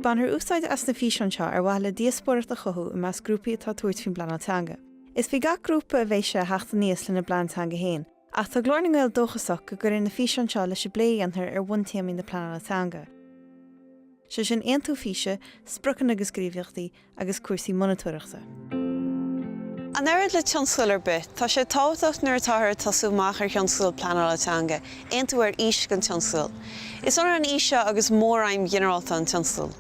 Bainfear úsáid as na físeáin seo ar mhaithe le díospóireacht a chothú i measc grúpaí atá ag tabhairt faoin bpleanáil teanga. Is faoi gach grúpa a bheidh sé a theacht aníos lena bplean teanga fhéin. Ach tá Glór na nGael dóchasach go gcuirfidh na físeáin seo leis an bplé a dhéanfar ar bhuntéamaí na pleanála teanga, sé sin aontú físe, spriocanna agus gníomhaíochtaí, agus cúrsaí monatóireachta. An oiread le tionscadal ar bith, tá sé tábhachtach nuair atáthar ag tosú amach ar thionscadal pleanála teanga, aontú ar fhís don tionscadal. Is ionann an fhís seo agus mór-aidhm ghinearálta an tionscadail.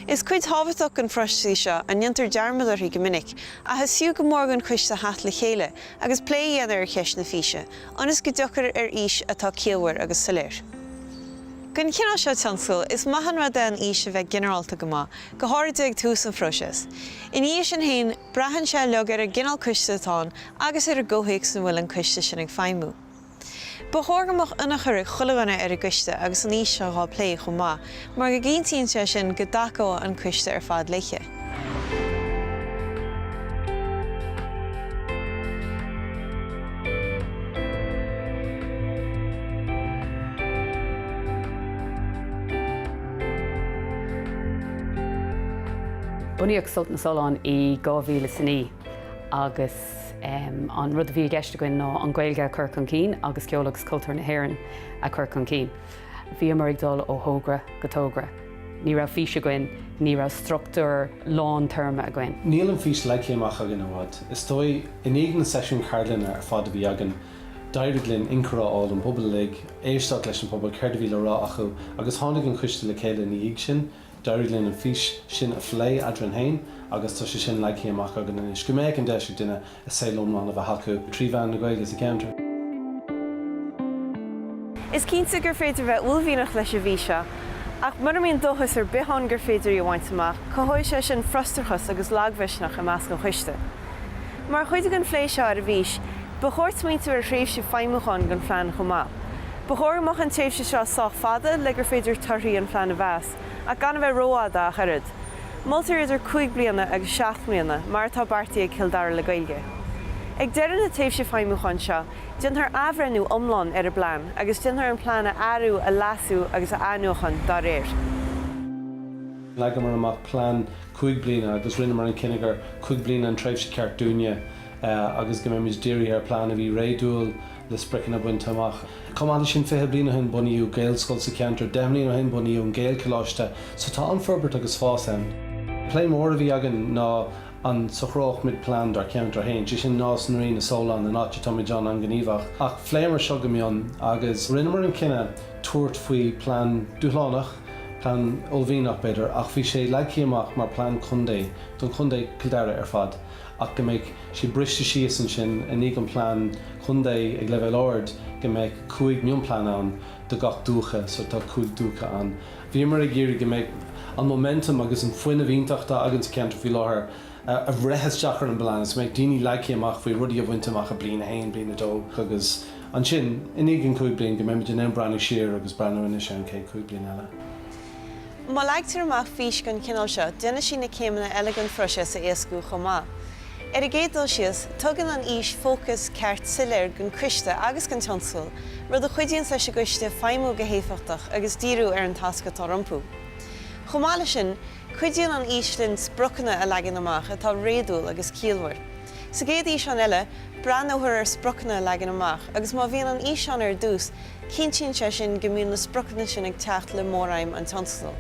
Is cuid thábhachtach den phróiseas í seo, a ndéantar dearmad uirthi go minic, ach is fiú go mór don choiste theacht le chéile, agus plé a dhéanamh ar cheist na físe, ionas go dtiocfar ar fhís atá ciallmhar agus soiléir. Don chineál seo tionscail, is maith an rud é an fhís a bheith ginearálta go maith, go háirithe ag tús an phróiseas. Ina dhiaidh sin féin, braitheann sé uilig ar an gcineál coiste atá ann agus ar an gcomhthéacs ina bhfuil an coiste sin ag feidhmiú. Ba chóir go mbeadh ionchur ag chuile dhuine ar an gcoiste agus an fhís seo á plé chomh maith mar go gcinntíonn sé sin go dtacóidh an coiste ar fad léi. Bunaíodh Sult na Sollán i 2009 agus. agus an rud a bhí i gceist againn ná an Ghaeilge a chur chun cinn agus ceol agus cultúr na hÉireann a chur chun cinn. Bhíomar ag dul ó thogra go togra. Ní raibh fís againn, ní raibh struchtúr fadtéarma againn. Níl an fís leagtha amach againn i bhfad. Is dóigh, i ndiaidh na seisiún ceardlainne ar fad a bhí againn, d'éirigh linn ionchur a fháil ón bpobal uilig, éisteacht leis an bpobal, céard a bhí le rá acu, agus tháinig an coiste le chéile ina dhiaidh sin. D'éirigh linn an fís sin a phlé eadrainn féin agus tá sé sin leagtha amach againn anois, go mbeadh an deis ag duine a saol iomlán a bheith acu trí mheán na Gaeilge sa cheantar. Is cinnte gur féidir a bheith uaillmhianach leis an bhfís seo, ach mura mbíonn dóchas ar bith ann gur féidir í a bhaint amach, cothóidh sé sin frustrachas agus lagmhisneach i measc an choiste. Mar chuid den phlé seo ar an bhfís, ba chóir smaointiú ar thréimhse feidhmiúcháin don phlean chomh maith. Ba chóir go mbeadh an tréimhse seo sách fada le gur féidir torthaí an phlean a mheas, ach gan a bheith rófhada ach oiread. Moltar idir cúig bliana agus seacht mbliana, mar atá beartaithe ag Cill Dara le Gaeilge. Ag deireadh na tréimhse feidhmiúcháin seo, déanfar athbhreithniú iomlán ar an bplean agus déanfar an plean a athrú, a leasú agus a athnuachan dá réir. Leagamar amach plean cúig bliana agus rinneamar an cinneadh gur cúig bliana an tréimhse ceart dúinne agus go mbeimid dírithe ar phlean a bhí réadúil, na spriocanna bainte amach. Chomh maith leis sin, fiche bliain ó shin bunaíodh Gaelscoil sa cheantar, deich mbliain ó shin bunaíodh an Gaelcholáiste, so tá an-fhorbairt agus fás ann. Plé mór a bhí againn ná an socródh muid plean dár cheantar féin, sé sin Nás na Rí, na Solláin, an áit a bhfuil muid ann, an-ghníomhach. Ach phléamar seo go mion agus rinneamar an cinneadh tabhairt faoi plean dúshlánach, plean uaillmhianach b'fhéidir, ach bhí sé leagthaí amach mar plean contae, don chontae, Cill Dara, ar fad. ach go mbeadh sé briste síos ansin i ndiaidh an plean contae ag leibhéal ard, go mbeadh cúig mionphlean ann do gach dúiche, so tá cúig dúiche ann. Bhíomar ag iarraidh go mbeadh an momentum agus an fuinneamh iontach atá againn sa cheantar faoi láthair a bhreith isteach ar an bplean agus go mbeadh daoine leagtha amach faoi rudaí a bhaint amach i bliain a haon, bliain a dó agus ansin, i ndiaidh an cúig bliain, go mbeimid in ann breathnú siar agus breathnú anois an chéad cúig bliain eile. Má leagtar amach fís don chineál seo, déanann sí na céimeanna eile don phróiseas a éascú chomh maith. Ar an gcéad dul síos, tugann an fhís fócas ceart soiléir don Choiste agus don tionscadal, rud a chuidíonn leis an gCoiste feidhmiú go héifeachtach agus díriú ar an tasc atá rompu. Chomh maith leis sin, cuidíonn an fhís linn spriocanna a leagan amach atá réadúil agus ciallmhar. Sa gcéad fhíseán eile, breathnófar ar spriocanna a leagan amach agus má bhíonn an fhís ann ar dtús, Cinntíonn sé sin go mbíonn na spriocanna sin ag teacht le móraidhm an tionscadail.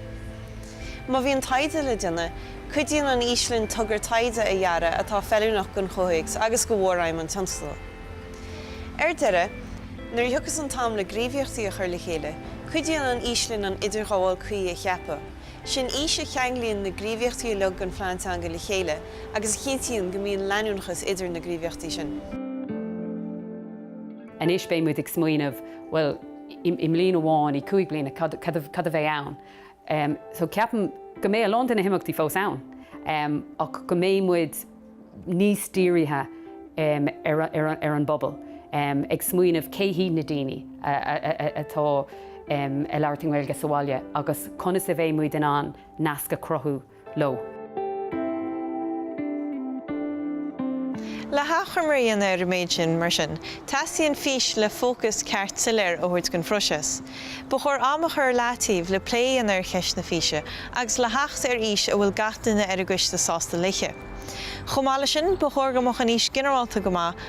Má bhíonn taighde le déanamh, cuidíonn an fhís linn togra taighde a dhearadh atá feiliúnach don chomhthéacs agus do mhóraidhm an tionscadail. Ar deireadh, nuair a thiocfas an t-am le gníomhaíochtaí a chur le chéile, cuidíonn an fhís linn an idirghabháil cuí a cheapadh, 's í an fhís a cheanglaíonn na gníomhaíochtaí uilig den Phlean Teanga le chéile agus a chinntíonn go mbíonn leanúnachas idir na gníomhaíochtaí sin. Anois beidh muid ag smaoineamh, bhuel, i mbliain amháin, i gcúig bliana, cad a bheidh ann? So ceapaim go mbeidh a lán de na himeachtaí fós ann ach go mbeidh muid níos dírithe ar an bpobal, ag smaoineamh cé hiad na daoine atá ag labhairt na Gaeilge sa bhaile agus conas a bheidh muid in ann nasc a chruthú. leo. Le hachoimre a dhéanamh ar an méid sin, mar sin, teastaíonn fís le fócas ceart soiléir a thabhairt don phróiseas. Ba chóir am a chur i leataobh le plé a dhéanamh ar cheist na físe agus le theacht ar fhís a bhfuil gach duine ar an gcoiste sásta léi. Chomh maith leis sin, ba chóir go mbeadh an fhís ginearálta go maith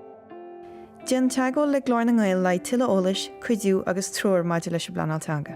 Déan teagmháil le Glór na nGael le haghaidh tuilleadh eolais, cuidiú agus treoir maidir leis an bpleanáil teanga.